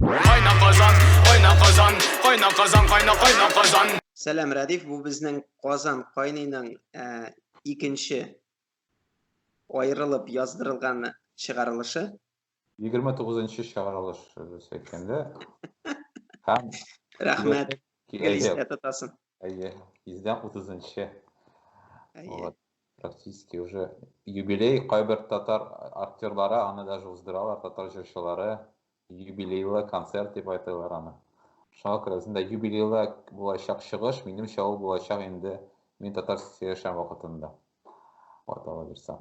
Кайна Казан, кайна Казан, кайна Казан, кайна кайна Казан. Сәлам, Радиф, бу безнең Казан кайныйның э, икенче аерылып яздырылган чыгарылышы. 29 нчы чыгарылыш дөрес әйткәндә. Һәм Рәхмәт. Гелистә тотасын. Әйе, издән 30 нчы. Вот. Практически уже юбилей кайбер татар актерлары аны даже уздыралар, татар җырчылары. Юбилейлы концерт дип айтылар аны. Шуңа күрә үзендә юбилейлы булачак чыгыш, минемчә ул булачак инде мин татар сөйләшәм вакытында. Вот, Алла бирсә.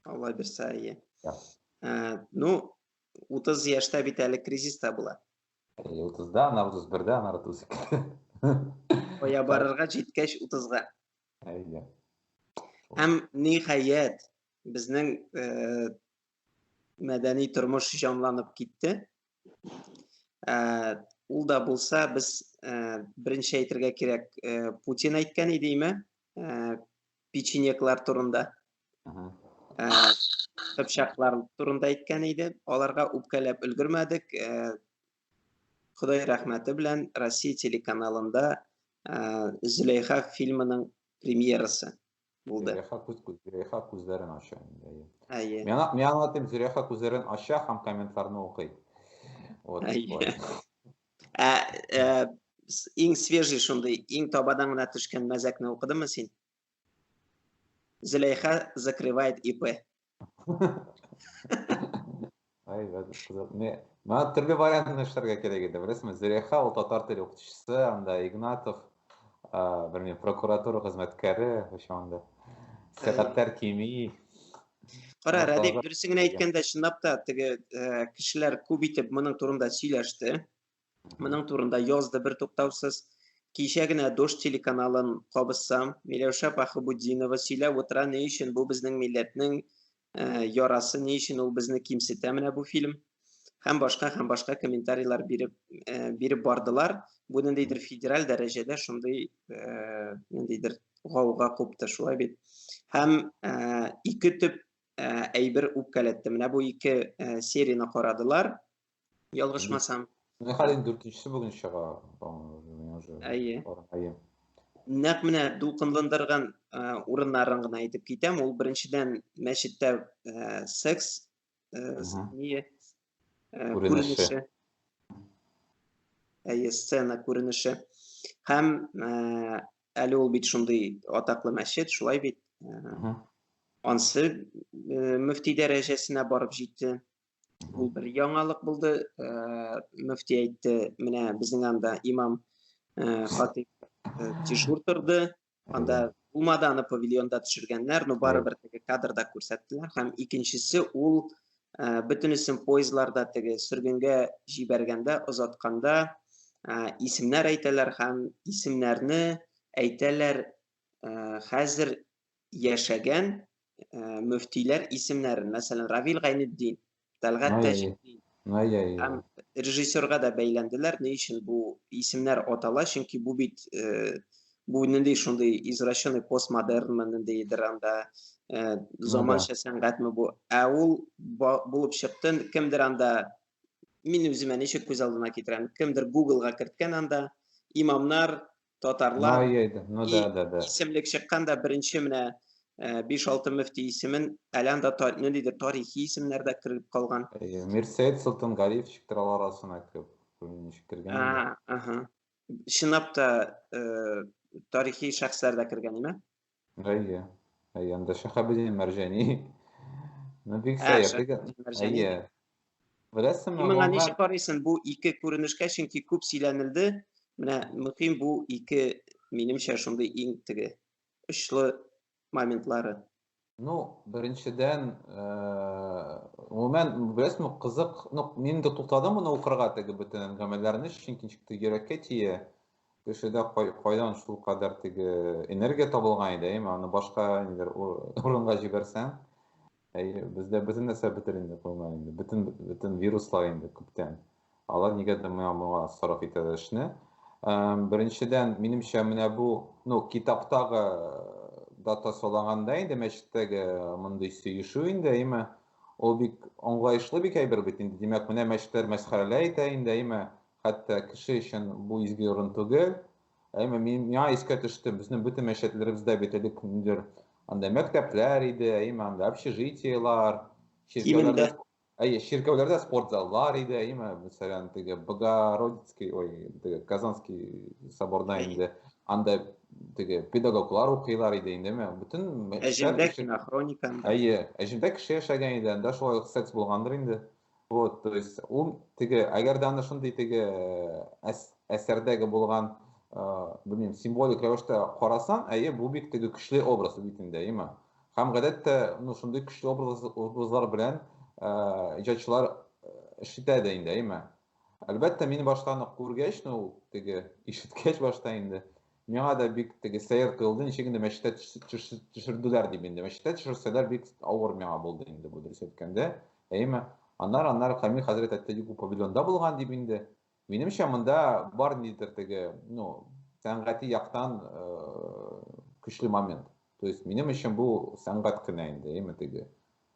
Алла бирсә, әйе. Да. Ә, ну, 30 яшьтә бит әле кризис та була. 30-да, ана 31-дә, ана 32. Оя барырга җиткәч 30-га. Әйе. Һәм ниһаять, безнең э, мәдәни тормыш җанланып китте. Ә, ул да булса, без ә, беренче әйтергә кирәк, ә, Путин әйткән иде име, ә, печенеклар турында. Ә, Кыпчаклар турында әйткән иде. Аларга үпкәләп өлгермәдек. Ә, Ходай рәхмәте белән Россия телеканалында ә, Зөләйха фильмының премьерасы Булды. Зөләйха күз Зөләйха күзләрен ача инде. Әйе. Миңа миңа аңлатып Зөләйха күзләрен ача һәм комментларны укый. Вот. Ә э, иң свежий шундый, иң табадан гына төшкән мәзәкне укыдымы син? Зөләйха закрывает ИП. Ай, кызык. Не, мына төрле вариантын эшләргә кирәк иде, беләсезме? Зөләйха ул татар теле укытучысы, анда Игнатов, ә, белмим, прокуратура хезмәткәре, вообще анда. Сәгатьләр кими. Кара, Радик, дөресен генә әйткәндә, чынлап та теге кешеләр күп итеп моның турында сөйләште. Моның турында язды бер туктаусыз. Кичә генә Дождь телеканалын кабызсам, Миләүшә Пахыбудинова сөйләп утыра, ни өчен бу безнең милләтнең э, ярасы, ни өчен ул безне кимсетә менә бу фильм. Һәм башка һәм башка комментарийлар биреп э, биреп бардылар. Бу ниндидер федераль дәрәҗәдә шундый э, ниндидер гауга купты, шулай бит. Һәм э, ике төп э, әйбер үпкәләтте. Менә бу ике э, серияне карадылар. Ялгышмасам. Менә хәлен дүртенчесе бүген чыга. Әйе. Әйе. Нәкъ менә дулкынландырган урыннарын гына әйтеп китәм. Ул беренчедән мәчеттә секс не күренеше. Әйе, сцена күренеше. Һәм әле ул бит шундый атаклы мәчет, шулай бит. Ансы мөфти дәрәҗәсенә барып җитте. Ул бер яңалык булды. Э, мөфти әйтте, менә безнең анда имам э, хатип э, дежур торды. Анда булмады аны павильонда төшергәннәр, но барыбер теге кадрда күрсәттеләр. Һәм икенчесе ул бөтенесен поездларда теге сөргенгә җибәргәндә, озатканда исемнәр әйтәләр һәм исемнәрне әйтәләр хәзер яшәгән э, мөфтиләр исемнәрен, мәсәлән, Равил Гайнетдин, Тәлгат Тәҗетдин, һәм режиссерга да бәйләнделәр. Ни өчен бу исемнәр атала? Чөнки бу бит э, бу нинди шундый извращенный постмодернмы, ниндидер анда э, заманча сәнгатьме бу? Ә ул булып чыкты, кемдер анда мин үземә ничек күз алдына китерәм, кемдер Google-га керткән анда имамнар Татарлар Ноя, да, ну и да, да, да. исемлек чыккан да беренче менә э, биш-алты мөфти исемен әлән дә та- ниндидер тарихи исемнәр дә кереп калган. Әйе, Мирсәет Солтангалиев чыктыр алар арасына кереп. Күрмим ничек кергән инде. А, аһа. Чынлап та э, тарихи шәхесләр дә кергән име? Әйе. Әйе, анда Шәһабетдин Мәрҗәни. Ну, бик Ә, сәер. Шәһабетдин Теге- Мәрҗәни. Әйе. Беләсеңме, Син моңа Ломга- ничек карыйсың бу ике күренешкә, чөнки күп сөйләнелде. Менә мөһим бу ике, минемчә, шундый иң теге очлы моментлары. Ну, беренчедән, э, гомумән, беләсеңме, кызык, ну, мин дә туктадым моны укырга теге бөтен әңгәмәләрне, чөнки ничектер йөрәккә тия. кешедә кайдан шул кадәр теге энергия табылган иде, әйме, аны башка нидер урынга җибәрсәң, әйе, бездә бөтен нәрсә бетер инде кулына инде, бөтен бөтен вируслар инде күптән. Алар нигәдер моңа моңа сарыф итәләр эшне. Беренчедән, минемчә, менә бу, ну, китаптагы дата саланганда инде мәчеттәге мондый сөешү инде, әйме, ул бик аңлаешлы бик әйбер бит инде. Димәк, менә мәчетләр мәсхәрәләй итә инде, әйме, Хәтта кеше өчен бу изге урын түгел. Әмма мин миңа искә төште, безнең бөтен мәчетләребездә бит элек ниндидер анда мәктәпләр иде, әйме анда общежитиелар, чиркәүләрдә, әйе, чиркәүләрдә спорт заллар иде, әйме, мәсәлән, теге Богородицкий, ой, теге Казанский соборда инде анда теге педагоглар укыйлар иде индеме? Бөтен мәчетләр Әҗемдә хроника. Әйе, әҗемдә кеше яшәгән иде, анда шулай секс булгандыр инде. Вот, то есть, ул теге, әгәр дә аны шундый теге э, әсәрдәге булган, э, белмим, символик рәвештә карасаң, әйе, бу бик теге көчле образ бит инде, әйеме? Һәм гадәттә, ну, шундый көчле образ, образлар белән э, иҗатчылар эшләтә дә инде, әйеме? Әлбәттә, мин башта аны күргәч, ну, теге, ишеткәч башта инде, миңа да бик теге сәер тоелды, ничек инде мәчеттә төшерделәр дип инде. Мәчеттә төшерсәләр бик авыр миңа булды инде бу дөрес әйткәндә. Әйеме? Аннары, аннары Камил хәзрәт әйтте, юк, бу павильонда булган дип инде. Минемчә, монда бар ниндидер теге, ну, сәнгати яктан э, көчле момент. То есть минем өчен бу сәнгать кенә инде, әйеме теге.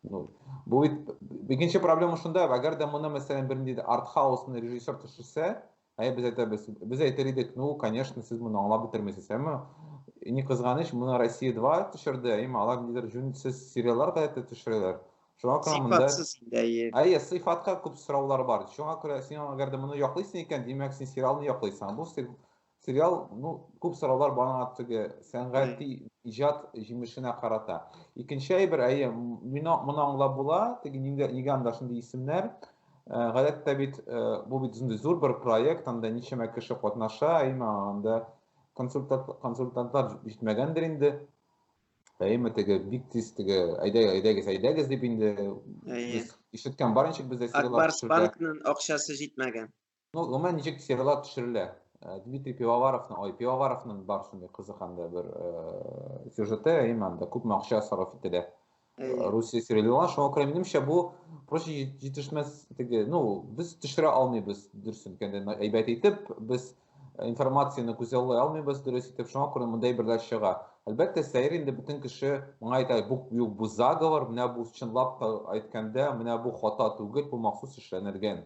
Ну, бу бит икенче проблема шунда, әгәр дә моны мәсәлән бернинди арт хаусны режиссер төшерсә, Әйе, без әйтәбез. Без әйтер идек, ну, конечно, сез моны аңлап бетермисез, әмма не кызганыч, моны Россия 2 төшерде, әйме, алар нидер җүнсез сериаллар да әйтеп төшерәләр. Шуңа күрә монда сыйфатсыз инде, әйе. Әйе, сыйфатка күп сораулар бар. Шуңа күрә син әгәр дә моны яклыйсың икән, димәк, син сериалны яклыйсың. Бу сериал, ну, күп сораулар бана теге сәнгати иҗат җимешенә карата. Икенче әйбер, әйе, моны аңлап була, теге нигә анда шундый исемнәр? Э, гадәттә бит э, бу бит зур бер проект, анда ничәмә кеше катнаша, әйме анда консультант, консультантлар җитмәгәндер инде. Әйме теге бик тиз теге әйдәгез, әйдәгез, әйдәгез дип инде ишеткән бар ничек бездә Акбарс банкның акчасы җитмәгән. Ну, гомумән ничек сервелат төшерелә? Э, Дмитрий Пивоваровның, ой, Пивоваровның бар шундый кызык анда бер э, сюжеты, әйме анда күп акча сарыф ителә. Э, Русия сервелат, шуңа күрә минемчә бу проще җитешмәс теге, ну, без төшерә алмыйбыз дөресен кенде әйбәт итеп, без информацияне күзаллый алмыйбыз дөрес итеп, шуңа күрә мондай берләр чыга. Әлбәттә, сәер инде бөтен кеше моңа әйтә, бу, бу, бу заговор, менә бу чынлап та әйткәндә, менә бу хата түгел, бу махсус эшләнелгән.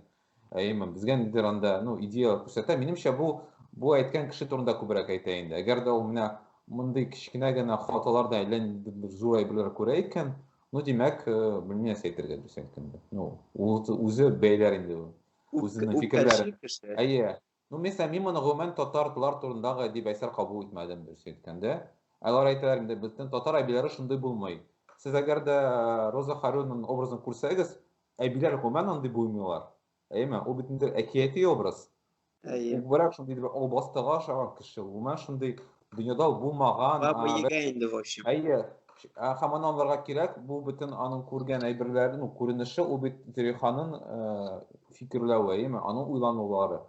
Әйеме, безгә нидер анда, ну, идея күрсәтә. Минемчә, бу бу әйткән кеше турында күбрәк әйтә инде. Әгәр дә ул менә мондый кечкенә генә хаталарда әллә нинди зур әйберләр күрә икән, ну, димәк, э, белмим нәрсә әйтергә дөрес әйткәндә. Ну, ул үзе бәйләр инде ул. Үзенең фикерләре. Әйе, Ну, мисәлән, мин моны гомумән татар тлар турындагы әдип әсәр кабул итмәдем, дөресен әйткәндә. Алар әйтәләр инде, безнең татар әбиләре шундый булмый. Сез әгәр дә Роза Харюнның образын күрсәгез, әбиләр гомумән андый булмыйлар. Әйеме? Ул бит инде әкияти образ. Әйе. Күбрәк шундый итеп албастыга ошаган кеше, гомумән шундый дөньяда ул булмаган баба егә инде в общем әйе һәм аны аңларга кирәк бу бөтен аның күргән әйберләре ну күренеше ул бит зөлиханың фикерләве әйеме аның уйланулары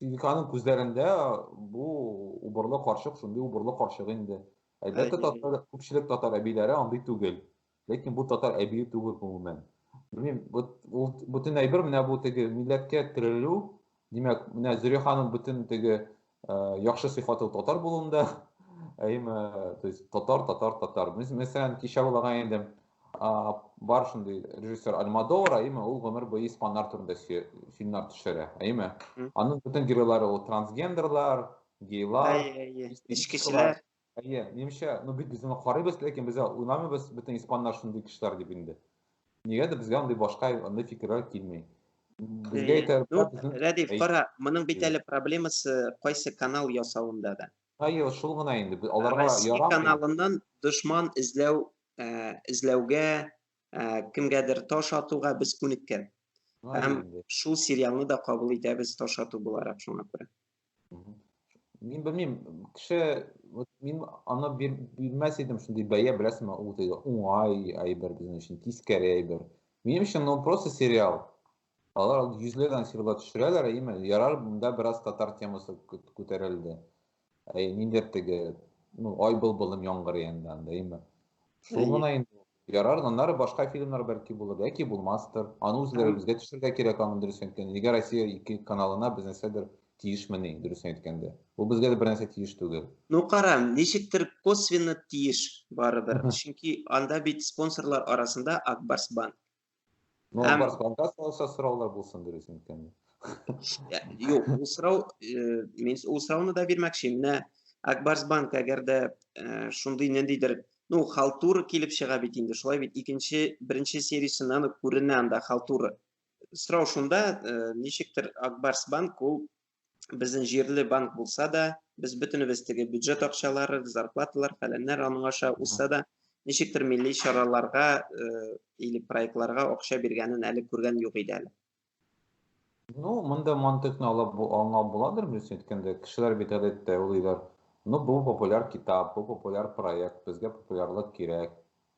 зөлиханың күзләрендә бу убырлы карчык шундый убырлы карчык инде әлбәттә татар күпчелек татар әбиләре андый түгел Ләкин бу татар әбие түгел гомумән. Белмим, вот ул бүтән әйбер менә бу теге милләткә терелү. Димәк, менә Зөрия ханым бүтән теге э, яхшы сыйфаты татар булуында. Әйме, то есть татар, татар, татар. Мис- Мәсәлән, кичә булган инде а, бар шундый режиссер Альмадовар, әйме, ул гомер буе испаннар турында сө- фильмнар төшерә, әйме. Мгм. Аның бүтән геройлары ул трансгендерлар, гейлар, Әйе, әйе. Эчкечеләр. Әйе, минемчә, ну бит без аны карыйбыз, ләкин без уйламыйбыз, бөтен испаннар шундый кешеләр дип инде. Нигәдер безгә андый башка андый фикерләр килми. Безгә Әйе. итә Ну, Рәдиф, Әйе. кара, моның бит әле проблемасы кайсы канал ясавында да. Әйе, шул гына инде. Бе- Аларга Россия ярамый. каналыннан дошман эзләү, э, эзләүгә Ә, кемгәдер таш атуга без күнеккән. Һәм шул сериалны да кабул итәбез таш ату буларак шуңа күрә. Мин белмим, кеше вот мин аны бирмәс идем шундый бәя, беләсеңме, ул диде, уңай әйбер безнең өчен, тискәре әйбер. Минем өчен ну просто сериал. Алар йөзләгән сирлар төшерәләр, әйеме? Ярар, монда бераз татар темасы күтәрелде. Әй, ниндер теге, ну, ай был былым яңгыр янда, әйеме? Шул гына инде. Ярар, аннары башка фильмнар бәлки булыр, яки булмастыр. Аны үзләре безгә төшергә кирәк, аны дөрес әйткәндә. Нигә Россия ике каналына без нәрсәдер тиешмени, дөрес әйткәндә. Бу безгә дә бер нәрсә тиеш түгел. Ну, кара, ничектер косвенно тиеш барыбер. Чөнки анда бит спонсорлар арасында Акбарс банк. Ну, Һәм... Барсбанга салса сораулар булсын дөрес микәнме? Юк, ул сорау, мин ул сорауны да бирмәкче. Менә Акбарсбанк әгәр дә шундый ниндидер ну халтура килеп чыга бит инде шулай бит икенче беренче сериясеннән үк күренә анда халтура сорау шунда ничектер акбарс банк ул безнең җирле банк булса да, без бөтенебез теге бюджет акчалары, зарплаталар, фәләннәр аның аша узса да, ничектер милли чараларга э, или проектларга акча биргәнен әле күргән юк иде әле. Ну, монда мантыкны алып аңлап буладыр, дөрес әйткәндә, кешеләр бит гадәттә уйлыйлар, ну, бу популяр китап, бу популяр проект, безгә популярлык кирәк,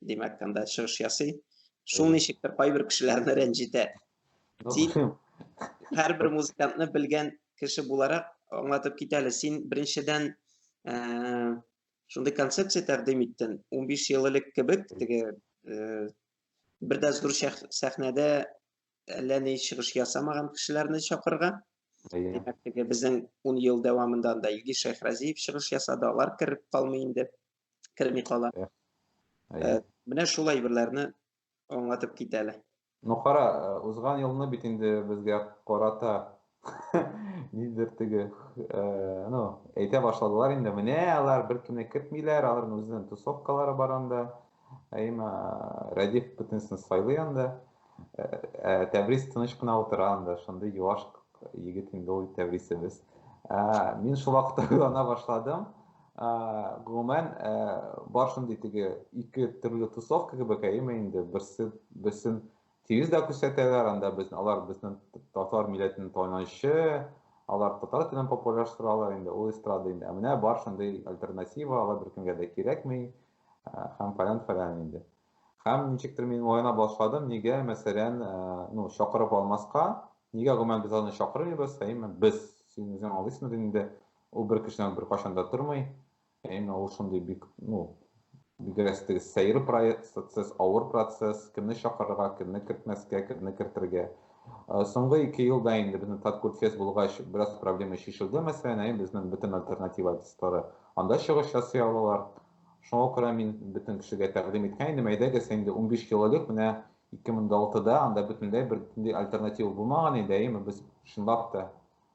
димәк, анда чыгыш ясый. Шул ничектер кайбер кешеләрне рәнҗетә. Тик һәрбер музыкантны белгән кеше буларак аңлатып кит әле. Син беренчедән ә, шундый концепция тәкъдим иттең. 15 ел элек кебек теге ә, бер дә зур сәхнәдә әллә ни чыгыш ясамаган кешеләрне чакырырга. Димәк, теге безнең 10 ел дәвамында да Илгиз Шәйхразиев чыгыш ясады, алар кереп калмый инде. керми кала. Ә, менә шул әйберләрне аңлатып кит әле. Ну кара, э, узган елны бит инде безгә карата нидер теге, э, ну, әйтә башладылар инде, менә алар беркемне кертмиләр, аларның үзенең тусовкалары бар анда. Әйма, Радиф бөтенесен сайлый анда. Тәбрис тыныч кына утыра анда, шундый юаш егет инде ул Тәбрисебез. Мин шул вакытта уйлана башладым. Гомумән, бар шундый теге ике төрле тусовка кебек, әйеме инде, берсе берсен тигез дә күрсәтәләр, анда без алар безнең татар милләтенең танычы, алар татар телен популярлаштыралар инде ул эстрада инде ә менә бар шундый альтернатива алар беркемгә дә кирәкми һәм фәлән фәлән инде Һәм ничектер мин уйлана башладым, нигә, мәсәлән, ну, чакырып алмаска, нигә гомумән без аны чакырмыйбыз, әйме, без, син үзең аңлыйсың бит инде, ул бер кешедән бер кашан да тормый, әйме, ул шундый бик, ну, бигрәк теге сәер процесс, авыр процесс, кемне чакырырга, кемне кертмәскә, кемне кертергә. Соңгы ике елда инде безнең Таткурфест булгач, бераз проблема шешелде, мәсәлән, әйе, безнең бөтен альтернатива артистлары анда чыгыш ясый алалар, Шуңа күрә мин бөтен кешегә тәкъдим иткән идем, әйдәгез инде унбиш кило элек менә 2006 да анда бөтенләй бер ниндәй альтернатива булмаган иде, әйеме, без чынлап та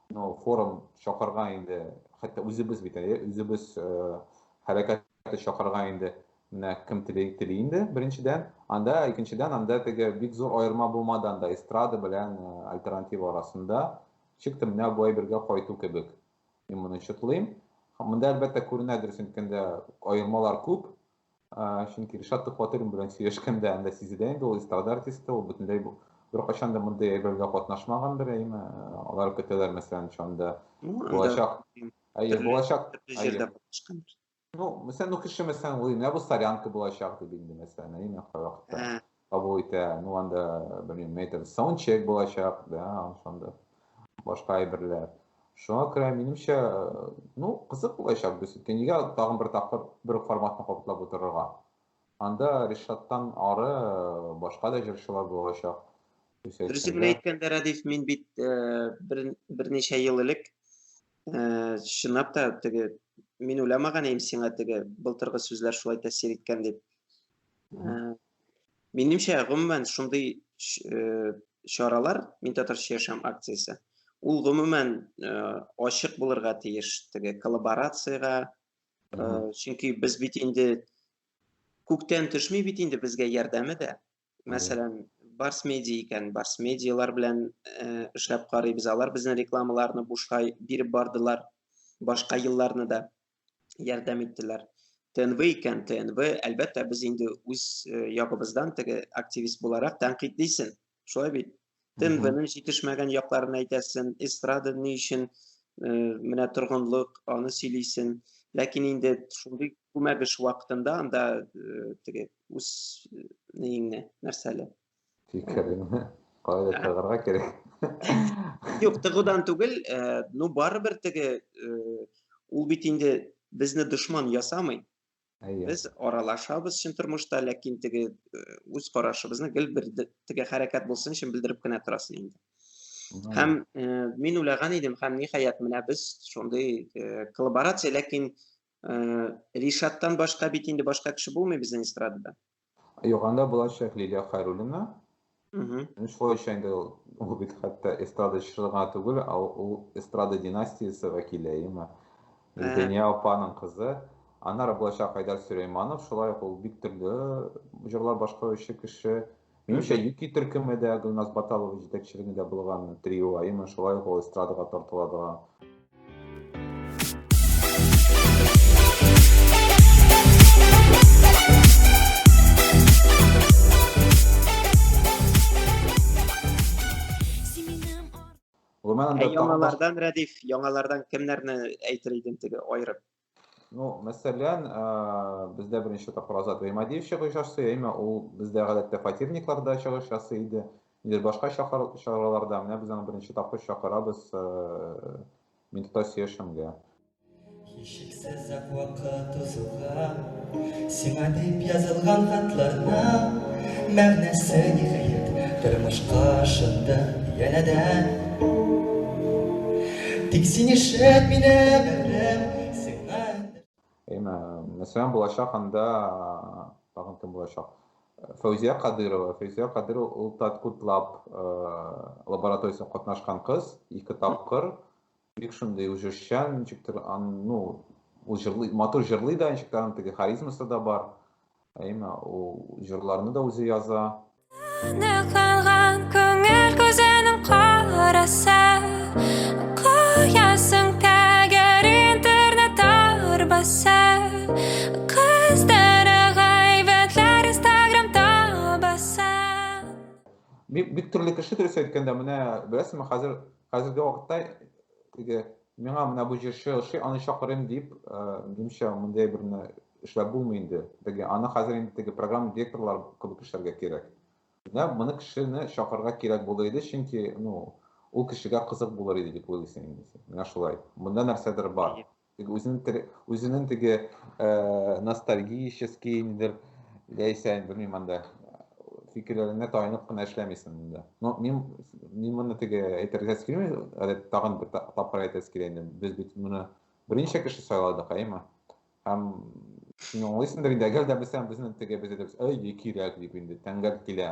ну, форум чакырга инде, хәтта үзебез бит, әйе, үзебез э, хәрәкәте чакырга инде менә кем тели, тели инде, беренчедән, анда, икенчедән, анда теге бик зур аерма булмады анда эстрада белән э, альтернатива арасында, чик менә бу әйбергә кайту кебек. Мин моны чытлыйм. Монда әлбәттә күренә дөрес әйткәндә аермалар күп. Чөнки Ришат Төхватуллин белән сөйләшкәндә анда сизелә инде ул эстрада артисты, ул бөтенләй беркайчан да мондый әйбергә катнашмагандыр, әйме. Алар көтәләр мәсәлән шунда. Булачак. Әйе, булачак. Җирдә булышкан. Ну, мәсәлән, ну кеше мәсәлән ул менә бу солянка булачак дип инде мәсәлән, әйе, мен каракта. Кабул итә, ну анда белмим, метр саундчек булачак, да, анда башка әйберләр. Шуңа күрә минемчә, ну, кызык булачак без. Нигә тагын бер тапкыр бер форматны кабатлап утырырга? Анда Ришаттан ары башка да җырчылар булачак. Дөресен әйткәндә, Радиф, мин бит берничә ел элек Э, чынлап та теге мин уйламаган идем сиңа теге былтыргы сүзләр шулай тәэсир иткән дип э, минемчә гомумән шундый э, чаралар мин татарча яшәм акциясе ул гомумән ачык булырга тиеш теге коллаборациягә чөнки без бит инде күктән төшми бит инде безгә ярдәме дә мәсәлән, Барс Медиа икән, Барс Медиалар белән э, эшләп карыйбыз. Алар безнең рекламаларны бушка биреп бардылар. Башка елларны да ярдәм иттеләр. ТНВ икән, ТНВ, әлбәттә, без инде үз э, ягыбыздан теге активист буларак тәнкыйтьлисен. Шулай бит? Тембрның җитешмәгән якларын әйтәсен, эстрада ни өчен менә торгынлык, аны сөйлисен. Ләкин инде шундый күмәк эш вакытында анда теге үз неңне нәрсәле? Фикереңне кайда тыгырга кирәк? Юк, тыгудан түгел, ну барыбер теге ул бит инде безне дошман ясамый. Әйе. Без аралашабыз чын тормышта, ләкин теге э, үз карашыбызны гел бер теге хәрәкәт булсын өчен белдереп кенә торасың инде. Һәм э, мин уйлаган идем, һәм ниһаять менә без шундый э, коллаборация, ләкин Ришаттан башка бит инде башка кеше булмый безнең эстрадада. Юганда булачак Лилия Хайруллина. Мхм. Шулайча инде ул, ул бит хәтта эстрада чыгырга түгел, а ул эстрада династиясе вәкиле, әйеме? Зәния апаның кызы. Аннары булачак Айдар Сөләйманов, шулай ук ул бик төрле җырлар башкаручы кеше. Минемчә, Юки төркеме дә Гөлназ Баталова җитәкчелегендә булган трио, әйеме? Шулай ук ул эстрадага тартыла торган. Гомән анда Ә яңалардан Рәдиф, яңалардан кемнәрне әйтер идең теге аерып? Ну, мәсәлән, бездә беренче тапкыр Азат Гыймадиев чыгыш ясый, әмма ул бездә гадәттә фатирникларда чыгыш ясый иде. Нидер башка чараларда, менә без аны беренче тапкыр чакырабыз Ментота сөяшемгә. Һичшиксез вакыт узуга Сиңа дип язылган хатларна Мәгънәсе ниһаять тормышка ашынды янә дә Тик син ишет мине бәлем сиңа Әйме, мәсәлән, булачак анда тагын кем булачак? Фәүзия Кадырова. Фәүзия Кадырова ул Таткутлаб лабораториясенә катнашкан кыз, ике тапкыр Бик шундый җырчан, ничектер, ну, ул җырлый, матур җырлый да, ничектер, аның теге харизмасы да бар. Әйме, ул җырларны да үзе яза. Ныкланган күңел күзенең караса, куясың тәгәр интернет арбаса, кыздары гайбәтләр инстаграм табаса. Бик, бик төрле кеше дөрес әйткәндә, менә беләсеңме, хәзер Хәзерге вакытта теге миңа менә бу җырчы ошый, аны чакырыйм дип, минемчә, мондый әйберне эшләп булмый инде. Теге аны хәзер инде теге программа директорлар кебек кешеләргә кирәк. Менә моны кешене чакырырга кирәк булыр иде, чөнки, ну, ул кешегә кызык булыр иде дип уйлыйсың инде син. Менә шулай. Монда нәрсәдер бар. Теге үзенең теге үзенең теге э, ностальгический ниндер яисә белмим анда фикерләренә таянып кына эшләмисең монда. Но мин мин моны теге әйтергә килми, әле тагын бер тапкыр әйтәсе килә инде. Без бит моны берничә кеше сайладык, әйме? Һәм син аңлыйсыңдыр инде, әгәр дә без безнең теге без әйтәбез, әй, кирәк дип инде, тәңгәл килә.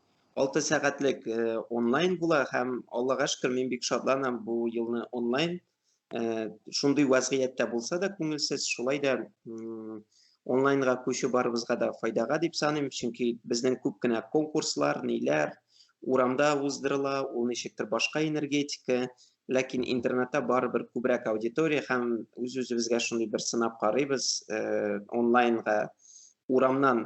6 сәгатьлек онлайн була һәм Аллага шөкер мин бик шатланам бу елны онлайн шундый вазгыятьтә булса да күңелсез шулай да онлайнга күчү барыбызга да файдага дип саныйм чөнки безнең күп кенә конкурслар ниләр урамда уздырыла ул ничектер башка энергетика ләкин интернетта барыбер күбрәк аудитория һәм үз үзебезгә шундый бер сынап карыйбыз онлайнга урамнан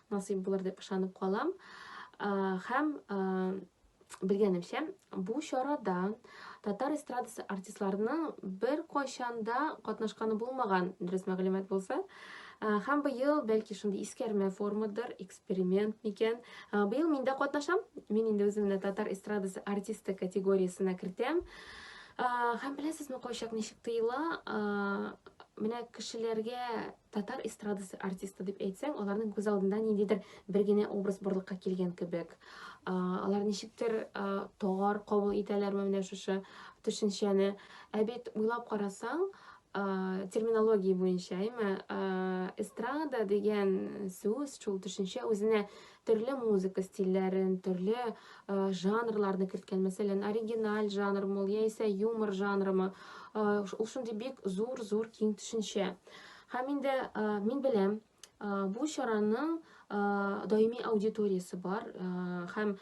насыйп булыр дип ышанып калам. Һәм белгәнемчә, бу чарада татар эстрадасы артистларының бер кайчанда катнашканы булмаган, дөрес мәгълүмат булса, Хәм быел, бәлки шундый искәрмә формадыр, эксперимент микән. Быел мин дә катнашам. Мин инде үземне татар эстрадасы артисты категориясенә кертәм. Хәм беләсезме, кайчак ничек тыела? Менә кешеләргә татар эстрадасы артисты дип әйтсәң, аларның күз алдында ниндидер бер генә образ барлыкка килгән кебек. Алар ничектер тагар кабул итәләрме менә шушы төшенчәне. Ә бит уйлап карасаң, терминология буенча, әйме, эстрада дигән сүз, шул төшенчә үзенә төрле музыка стильләрен, төрле жанрларны керткән. Мәсәлән, оригиналь жанрмы, яисә юмор жанрымы, ул шундый бик зур-зур киң төшенчә. Һәм инде мин беләм, бу чараның даими аудиториясе бар һәм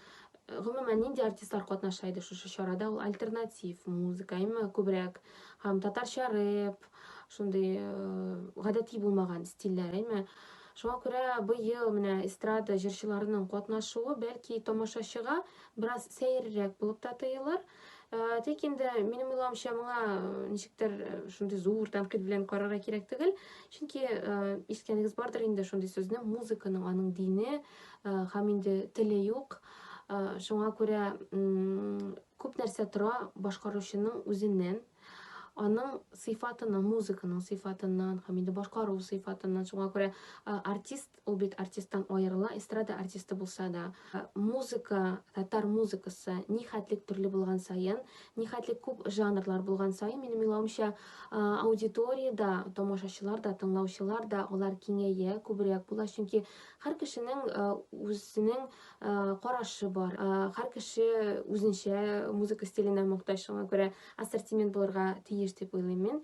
гомумән нинди артистлар катнаша иде шушы чарада ул альтернатив музыка әмма күбрәк һәм татарча рэп шундый гадәти булмаган стильләр әмма шуңа күрә быел менә эстрада җырчыларының катнашуы бәлки тамашачыга бераз сәеррәк булып та тоелыр Э, тик инде минем уйлавымча моңа э, ничектер э, шундый зур тәнкыйть белән карарга кирәк түгел чөнки искәнегез бардыр инде шундый сүзне музыканың аның дине һәм инде теле юк шуңа күрә күп нәрсә тора башкаручының үзеннән аның сыйфатыннан музыканың сыйфатыннан һәм инде башкару сыйфатыннан шуңа күрә артист Ул бит артисттан аерыла, эстрада артисты булса да. Музыка, татар музыкасы нихәтлек төрле булган саен, нихәтлек күп жанрлар булган саен, минем уйлавымча, аудитория да, тамашачылар да, тыңлаучылар да, алар киңәя, күбрәк була, чөнки һәр кешенең үзенең карашы бар. Һәр кеше үзенчә музыка стиленә мохтаҗ, шуңа күрә ассортимент булырга тиеш дип уйлыйм мин.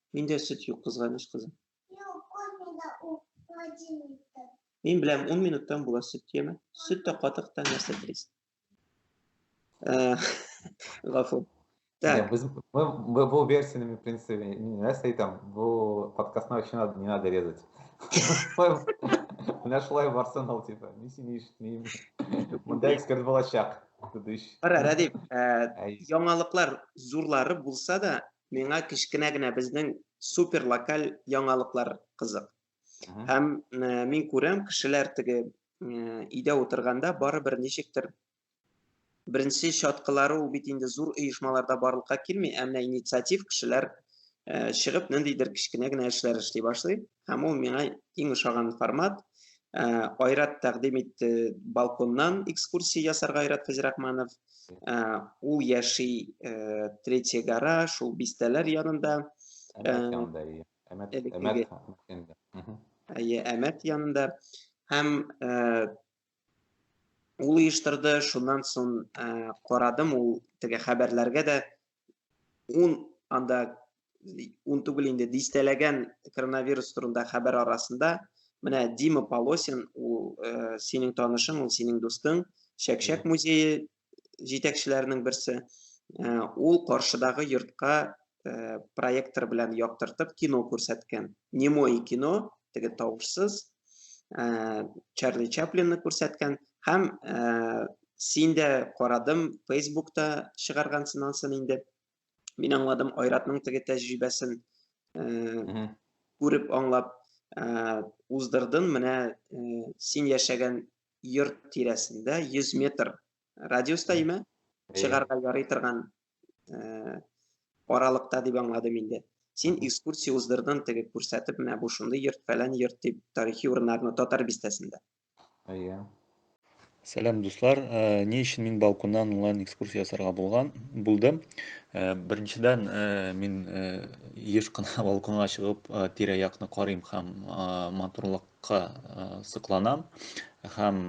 Миндә сөт юк, кызганыч кызым. Мин беләм, 10 минуттан була сөт яме. Сөт тә катык та нәрсә телисең. Э, Гафу. Так. Без, мы, мы был версиями, в принципе, не нас и там, был подкаст на вообще надо, не надо резать. Нашла в арсенал, типа, не синиш, не... Мында эксперт был очак. Ара, Радип, яңалыклар зурлары булса да, миңа кечкенә генә безнең супер локаль яңалыклар кызык. Һәм мин күрәм, кешеләр теге өйдә утырганда барыбер ничектер беренче чаткылары ул бит инде зур оешмаларда барлыкка килми, ә менә инициатив кешеләр чыгып ниндидер кечкенә генә эшләр эшли башлый. Һәм ул миңа иң ошаган формат. Э, Айрат тәкъдим итте балконнан экскурсия ясарга Айрат Фәзрахманов. Э, ул яши э, третий гора, шул бистәләр янында. Әмәт янында, әмәт, әмәт, әмәт янында. Һәм ул оештырды, шуннан соң карадым, ул теге хәбәрләргә дә ун анда ун түгел инде дистәләгән коронавирус турында хәбәр арасында менә дима полосин ул ә, синең танышың ул синең дустың чәкчәк музее җитәкчеләренең берсе ә, ул каршыдагы йортка ә, проектор белән яктыртып кино күрсәткән немое кино теге тавышсыз ә, Чарли Чаплинны күрсәткән һәм ә, син дә карадым Фейсбукта чыгаргансың ансын инде. Мин аңладым Айратның теге тәҗрибәсен ә, күреп аңлап ә, уздырдым. Менә ә, син яшәгән йорт тирәсендә 100 метр радиуста име чыгарга ярый торган аралыкта дип аңладым инде. Син экскурсия уздырдың теге күрсәтеп, менә бу шундый йорт, фәлән йорт дип, тарихи урыннарны татар бистәсендә. Әйе. Сәлам, дуслар. Э, ни өчен мин балконнан онлайн экскурсия ясарга булган булды? Э, беренчедән, э, мин еш кына балконга чыгып, тирә-якны карыйм һәм матурлык ка сокланам һәм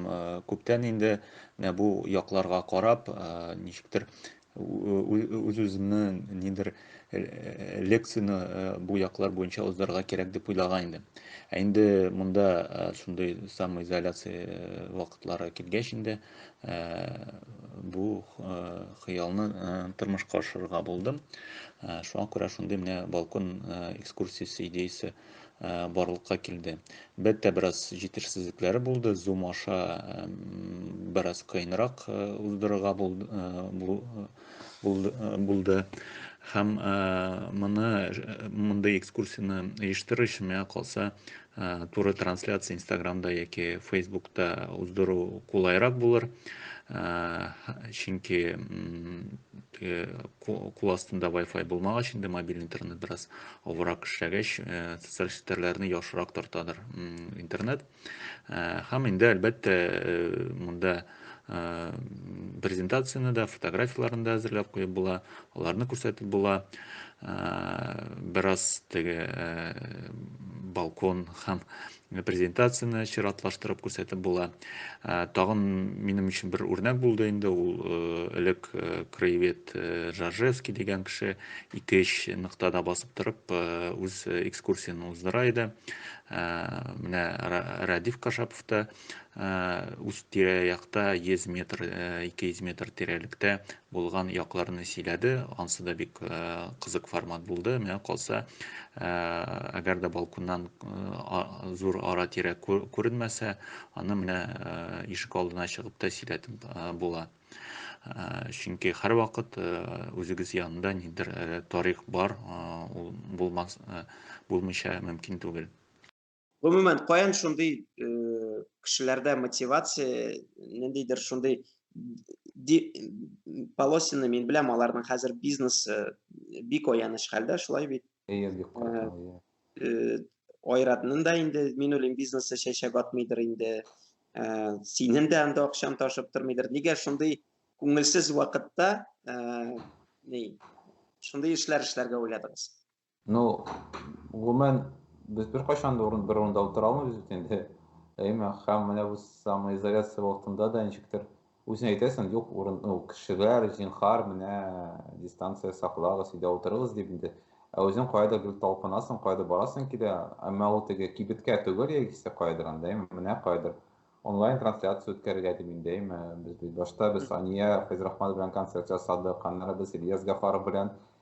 күптән инде менә бу якларга карап ничектер үз үземне нидер лекцияне бу яклар буенча узарга кирәк дип уйлаган идем ә инде монда шундый самоизоляция вакытлары килгәч инде бу хыялны тормышка ашырырга булдым шуңа күрә шундый менә балкон экскурсиясе идеясе барлыкка килде. Әлбәттә, бераз җитешсезлекләре булды. Zoom аша бераз кыенрак уздырырга булды. Һәм моны, мондый экскурсияне оештыру өчен, миңа калса, туры трансляция Инстаграмда яки Фейсбукта уздыру кулайрак булыр. Чөнки кул астында Wi-Fi булмагач, инде мобиль интернет бераз авырак эшләгәч, э, социаль челтәрләрне яхшырак тартадыр интернет. Э, һәм инде әлбәттә э, монда презентацияне дә, фотографияләрен дә әзерләп куеп була, аларны күрсәтеп була. Бераз теге балкон һәм презентацияне чиратлаштырып күрсәтеп була. Тагын минем өчен бер үрнәк булды инде, ул элек краевед Жажевский дигән кеше 2-3 ноктада басып торып, үз экскурсияне уздыра иде. Менә Радиф Кашапов та үз тирә-якта 100 метр, 200 метр тирәлектә Булган якларны сөйләде, ансы да бик кызык формат булды. Менә калса, әгәр дә балконнан зур ара тирә күренмәсә, аны менә ишек алдына чыгып та сөйләтеп була. Чөнки һәрвакыт үзегез янында нидер тарих бар, ул булмас, булмыйча мөмкин түгел. Гомумән, каян шундый э, кешеләрдә мотивация, ниндидер шундый полосины мин беләм, аларның хәзер бизнесы э, бик аяныч хәлдә, шулай бит. Әйе, бик э, э, Айратның да инде, мин уйлыйм, бизнесы чәчәк атмыйдыр инде. Синең дә анда акчан ташып тормыйдыр. Нигә шундый күңелсез вакытта ни шундый эшләр эшләргә уйладыгыз? Ну, гомумән, без бер кайчан да урын, бер урында утыра алмыйбыз бит инде. Әйме, һәм менә бу самоизоляция вакытында да ничектер үзеңә әйтәсең, юк, урын, ну, кешеләр, зинхар, менә дистанция саклагыз, өйдә утырыгыз дип инде. Ә үзең кайда гел талпынасың, кайда барасың килә, әмма ул теге кибеткә түгел яисә кайдыр анда, әйме, менә кайдыр онлайн трансляция үткәрергә дип инде, әйме, без башта без Ания Фәйзрахманов белән концерт ясадык, аннары без Ильяс Гафаров белән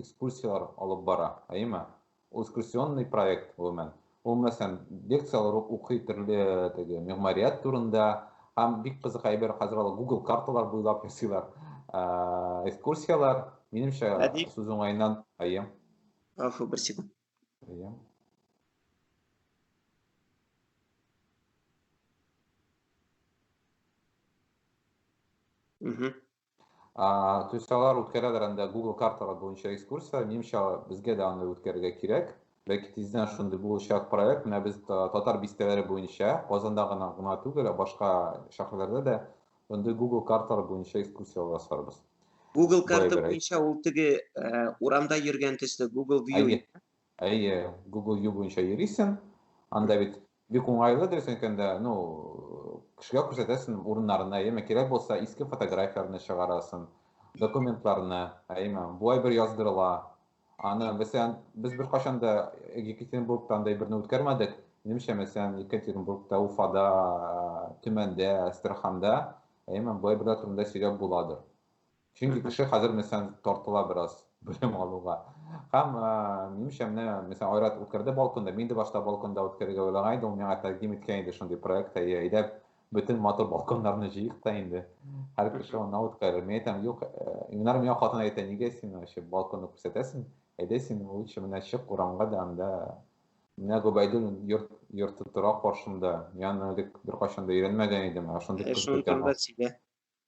экскурсияләр алып бара, әйеме? Ул экскурсионный проект, гомумән. Ул, мәсәлән, лекцияләр укый төрле теге мәгъмәрият турында, һәм бик кызык әйбер хәзер алар Google карталар буйлап ясыйлар. Экскурсияләр, минемчә, сүз уңаеннан, әйе. Афу, бер секунд. Әйе. Угу. А, то есть алар үткәрәләр анда Google карталар буенча экскурсия, минемчә безгә дә аны үткәрергә кирәк. Бәлки тиздән шундый булачак проект, менә без татар бистәләре буенча Казанда гына гына түгел, ә башка шәһәрләрдә дә андый Google карталар буенча экскурсия ясарбыз. Google карта буенча ул теге э, урамда йөргән төсле Google View. Әйе, Google View буенча йөрисең, анда бит Бик уңайлы дөрес әйткәндә, ну, кешегә күрсәтәсең урыннарына, әйеме, кирәк булса, иске фотографияләрне чыгарасын, документларны, әйеме, буай бер яздырыла. Аны, мәсәлән, без бер качан да Екатеринбургта андай берне үткәрмәдек. Минемчә, мәсәлән, Екатеринбургта, Уфада, Төмәндә, Астраханда, әйеме, буай берләр турында сөйләп буладыр. Чөнки кеше хәзер мәсәлән тартыла бераз белем алуга. Һәм минемчә менә мәсәлән Айрат үткәрде балконда, мин дә башта балконда үткәрергә уйлаган идем, ул миңа тәкъдим иткән иде шундый проект, әйе, әйдәп бөтен матур балконнарны җыйк та инде. Һәр кеше аны үткәрер. Мин әйтәм, юк, Ильнар миңа хатын әйтә, нигә син вообще балконны күрсәтәсең? Әйдә син лучше менә чык урамга да анда Менә Гобәйдул йорт йорты тора каршында. Мин аны элек беркайчан да өйрәнмәгән идем, ә шундый кыз икән.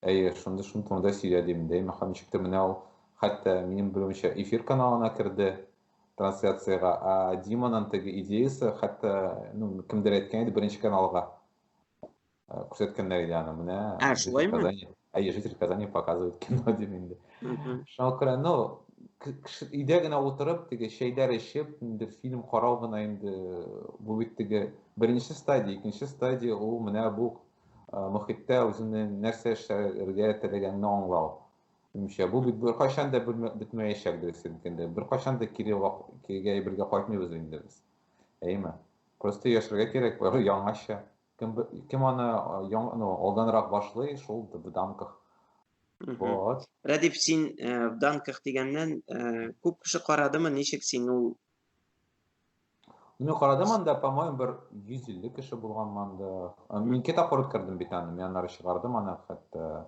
Әйе, шундый шундый турында сөйлә дим. Дәймә хан ничек тә менә ул хәтта минем белүемчә эфир каналына керде трансляциягә. Ә Диманың теге идеясы хәтта ну кемдер әйткән иде беренче каналга э, күрсәткәннәр иде аны менә. Ә шулаймы? Әйе, житель Казани показывает кино дип инде. Шуңа күрә ну өйдә генә утырып теге чәйләр эчеп инде фильм карау гына инде бу бит теге беренче стадия икенче стадия ул менә бу мөхиттә үзенең нәрсә эшләргә теләгәнен аңлау. Имчә бу бит беркайчан да бетмәячәк дөрес инде. Беркайчан да кире кирегә әйбергә кайтмыйбыз инде без. Әйме? Просто яшәргә кирәк, бары яңача. Кем кем аны яң, ну, алданрак башлый, шул в данках. Вот. Радиф, син в данках дигәннән күп кеше карадымы, ничек син ул Ну, карадым анда, по-моему, бер 150 кеше булган анда. Мин ике тапкыр үткәрдем бит аны, мин аннары чыгардым аны хәтта.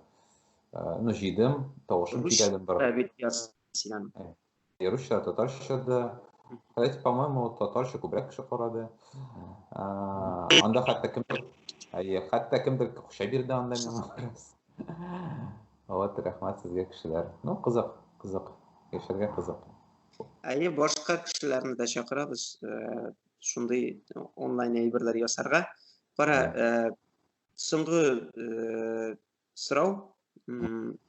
Э, ну, җыйдым, тавышым кидәдем бер. Бит ясыйдан. Э, Русча, татарча да. Хотя, по-моему, татарча күбрәк кеше карады. Э, анда хәтта кем Әйе, хәтта кемдер кушай бирде анда миңа. Вот, рәхмәт сезгә кешеләр. Ну, кызык, кызык. Яшәргә кызык. Әйе, башка кешеләрне дә чакырабыз шундый онлайн әйберләр ясарга. Кара, соңгы сорау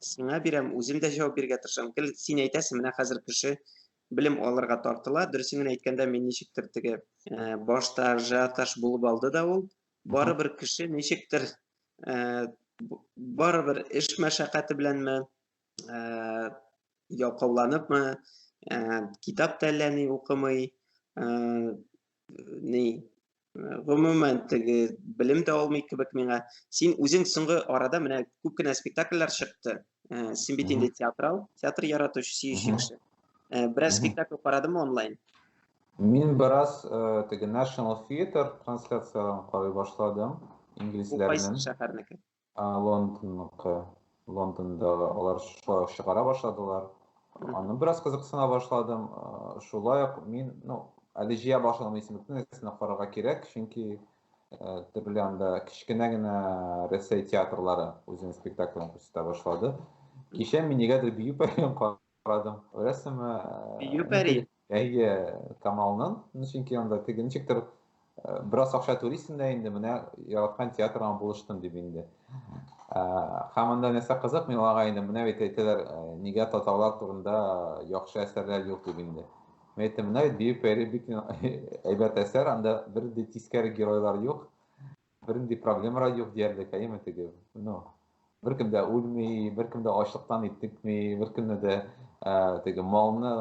сиңа бирәм, үзем дә җавап бирергә тырышам. Гел син әйтәсең, менә хәзер кеше белем алырга тартыла. Дөресен генә әйткәндә, мин ничектер теге башта ажиотаж булып алды да ул. Барыбер кеше ничектер барыбер эш мәшәкате беләнме, ялкауланыпмы, ә, китап та әллә ни укымый, ә, ни, гомумән теге белем дә алмый кебек миңа. Син үзең соңгы арада менә күп кенә спектакльләр чыкты. Ә, син бит инде театрал, театр яратучы, сөюче кеше. Ә, бераз спектакль карадымы онлайн? Мин бераз э, теге National Theater трансляцияләрен карый башладым, Бу кайсы инглизләрнең. шәһәрнеке? Ә Лондонныкы, Лондондагы, алар шулай ук чыгара башладылар. Аны бераз кызыксына башладым. Шулай ук мин, ну, әле җыя башладым исемлекне, нигезенә карарга кирәк, чөнки төрле анда кечкенә генә Рәсәй театрлары үзенең спектакльләрен күрсәтә башлады. Кичә мин нигәдер бию пәрен Карадым. Күрәсең, Юпәри. Әйе, Камалның, чөнки анда теге ничектер бераз акча түлисең дә инде, менә яраткан театрыңа булыштым дип инде. Һәм анда нәрсә кызык, мин аларга инде менә бит әйтәләр, нигә татарлар турында яхшы әсәрләр юк дип инде. Мин әйттем, менә бит Бию пәри бик әйбәт әсәр, анда бер дә тискәре геройлар юк. Бернинди проблемара юк диярлек, әйеме теге? Ну, беркем дә үлми, беркем дә ачлыктан итекми, беркемне дә теге малны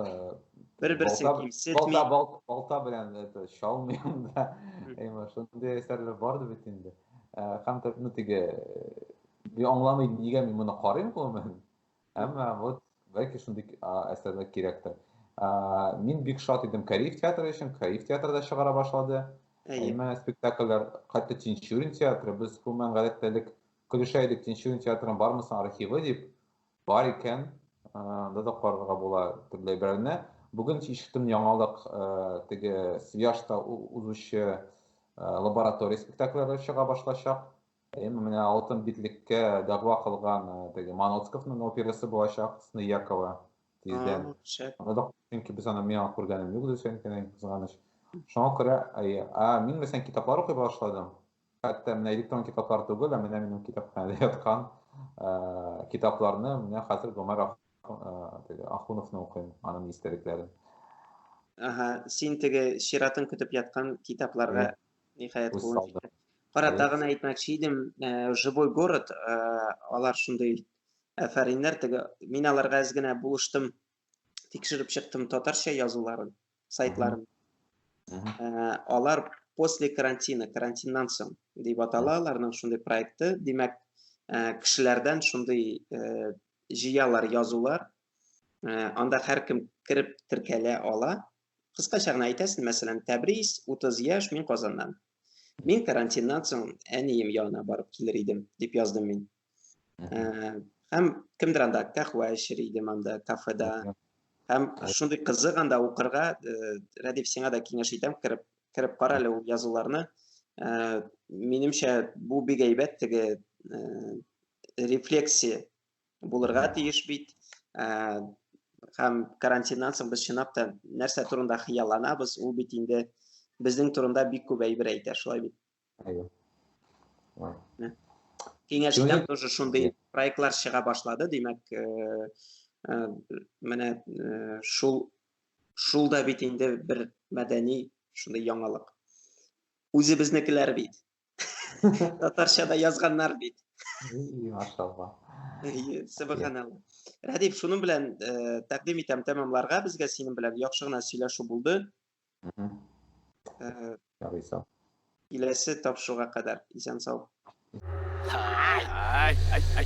бер-берсен кимсетми. Балта, балта белән это шалмый анда. Әйме, шундый әсәрләр барды бит инде. Һәм ну теге аңламый нигә мин моны карыйм гомумән. Әмма вот бәлки шундый әсәрләр кирәктер. Мин бик шат идем Кариев театры өчен, Кариев театры да чыгара башлады. Әйме спектакльләр, хәтта Тинчурин театры, без гомумән гадәттә элек көлешә идек, Тинчурин театрын бармы соң архивы дип, бар икән, анда да карарга була төрле әйберләрне. Бүген ишеттем яңалык, теге Свияжта узучы лаборатория спектакльләре чыга башлачак. Әйеме, менә алтын битлеккә дәгъва кылган э, теге Маноцковның операсы булачак, Сны Якова тиздән. Анда чөнки без аны миңа күргәнем юк дисәң кенә кызганыч. Шуңа күрә, әйе, а мин мәсәлән китаплар укый башладым. Хәтта менә электрон китаплар түгел, ә менә минем китапханәдә яткан э, китапларны менә хәзер Гомәр э, Ахуновны укыйм, аның истәлекләрен. Ага, син теге чиратын көтеп яткан китапларга Ниһаять Үз кулын салды. җитте. Кара, Әйе. тагын әйтмәкче идем, э, живой город, э, алар шундый әфәриннәр теге. Мин аларга әз генә булыштым, тикшереп чыктым татарча язуларын, сайтларын. Мгм. Э, алар после карантина, карантиннан соң дип атала аларның шундый проекты. Димәк, э, кешеләрдән шундый э, җыялар язулар. Э, анда һәркем кереп теркәлә ала. Кыскача гына әйтәсен, мәсәлән, Тәбрис, 30 яшь, мин Казаннан. Мин карантиннан соң әнием янына барып килер идем, дип яздым мин. Һәм кемдер анда кахва эчер идем анда кафеда. Һәм шундый кызык анда укырга, Рәдиф, сиңа да киңәш итәм, кереп кереп кара әле ул язуларны. Минемчә, бу бик әйбәт теге рефлексия булырга тиеш бит. Һәм карантиннан соң без чынлап та нәрсә турында хыялланабыз, ул бит инде безнең турында бик күп әйбер әйтә, шулай бит? Әйе. Киңәшчедән тоже шундый проектлар чыга башлады, димәк, менә шул шул да бит инде бер мәдәни шундый яңалык. Үзебезнекеләр бит. Татарча да язганнар бит. Машалла. Субханалла. Радиф, шуның белән э, тәкъдим итәм тәмамларга. Безгә синең белән яхшы гына сөйләшү булды. Э, Ярый сау. Киләсе тапшыруга кадәр исән сау. Ай, ай, ай, ай.